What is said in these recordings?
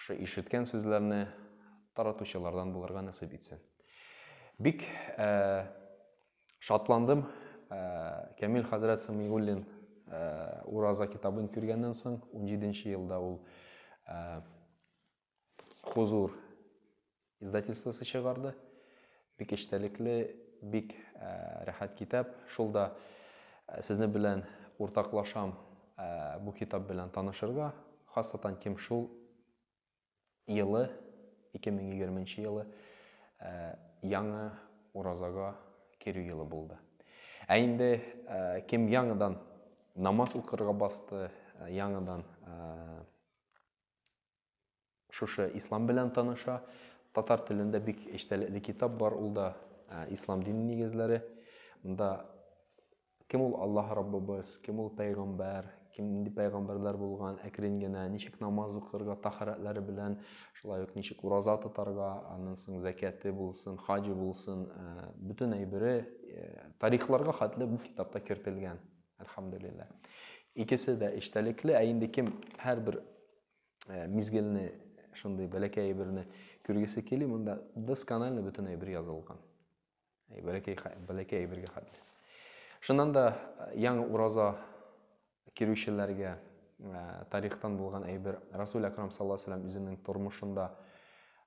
Шы ишеткән сүзләрне таратучылардан булырга насыйп итсен. Бик ә, шатландым ә, Камил хәзрәт Самигуллин ә, Ураза китабын күргәннән соң, 17 елда ул ә, хузур Издательствосы чыгарды. Бик эчтәлекле, бик рәхәт китап. Шул да сезне белән уртаклашам бу китап белән танышырга. Хасатан кем шул елы, 2020 нче елы, яңа уразага керү елы булды. Ә инде кем яңадан намаз укырга басты, яңадан шушы ислам белән таныша. Татар телендә бик эчтәлекле китап бар, ул да ислам дине нигезләре. Монда кем ул Аллаһ Раббыбыз, кем ул пәйгамбәр, кем нинди пәйгамбәрләр булган, әкрен генә ничек намаз укырга, тахарәтләре белән, шулай ук ничек ураза тотарга, аннан соң зәкяте булсын, хаҗы булсын, э, бөтен әйбере э, тарихларга хәтле бу китапта кертелгән. Әлхәмдулиллаһ. Икесе дә эчтәлекле, ә инде кем һәрбер э, мизгелне шундый бәләкәй әйберне күргесе кили монда досконально бөтен әйбер язылган бәләкәй бәләкәй әйбергә хәтле шуннан да э, яңа ураза керүчеләргә э, тарихтан булган әйбер расул әкрам саллаллаху алейһи үзенең тормышында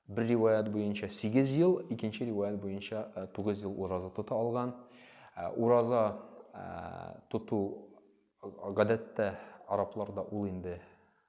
бер риваят буенча 8 ел икенче риваят буенча 9 ел ураза тота алган ураза тоту гадәттә арапларда ул инде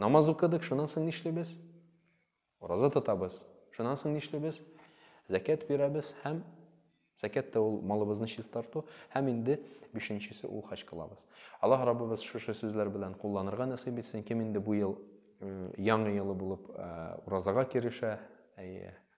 Намаз укыдык, шуннан соң нишлибез? Ураза тотабыз. Шуннан соң нишлибез? Зәкят бирәбез һәм зәкят та ул малыбызны чистарту һәм инде бишенчесе ул хаҗ кылабыз. Аллаһ Раббыбыз шушы сүзләр белән кулланырга насыйп итсен. Кем инде бу ел яңа елы булып уразага керешә, әйе,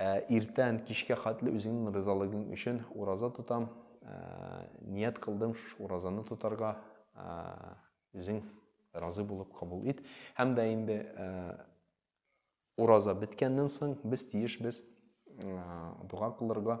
Ә иртән кичкә хәтле үзеңнең ризалыгың өчен ураза тотам, ният кылдым шушы уразаны тотарга, үзең разый булып кабул ит. Һәм дә инде ураза беткәннән соң без тиешбез дога кылырга,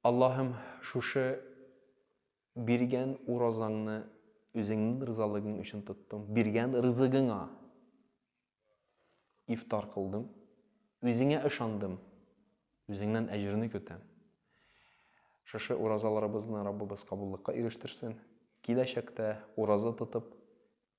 Аллаһым, шушы биргән уразаңны үзеңнең ризалыгың өчен тоттым. Биргән ризыгыңа ифтар кылдым. Үзеңә ышандым. Үзеңнән әҗерне көтәм. Шушы уразаларыбызны Раббыбыз кабуллыкка ирештерсен. Киләчәктә ураза тотып,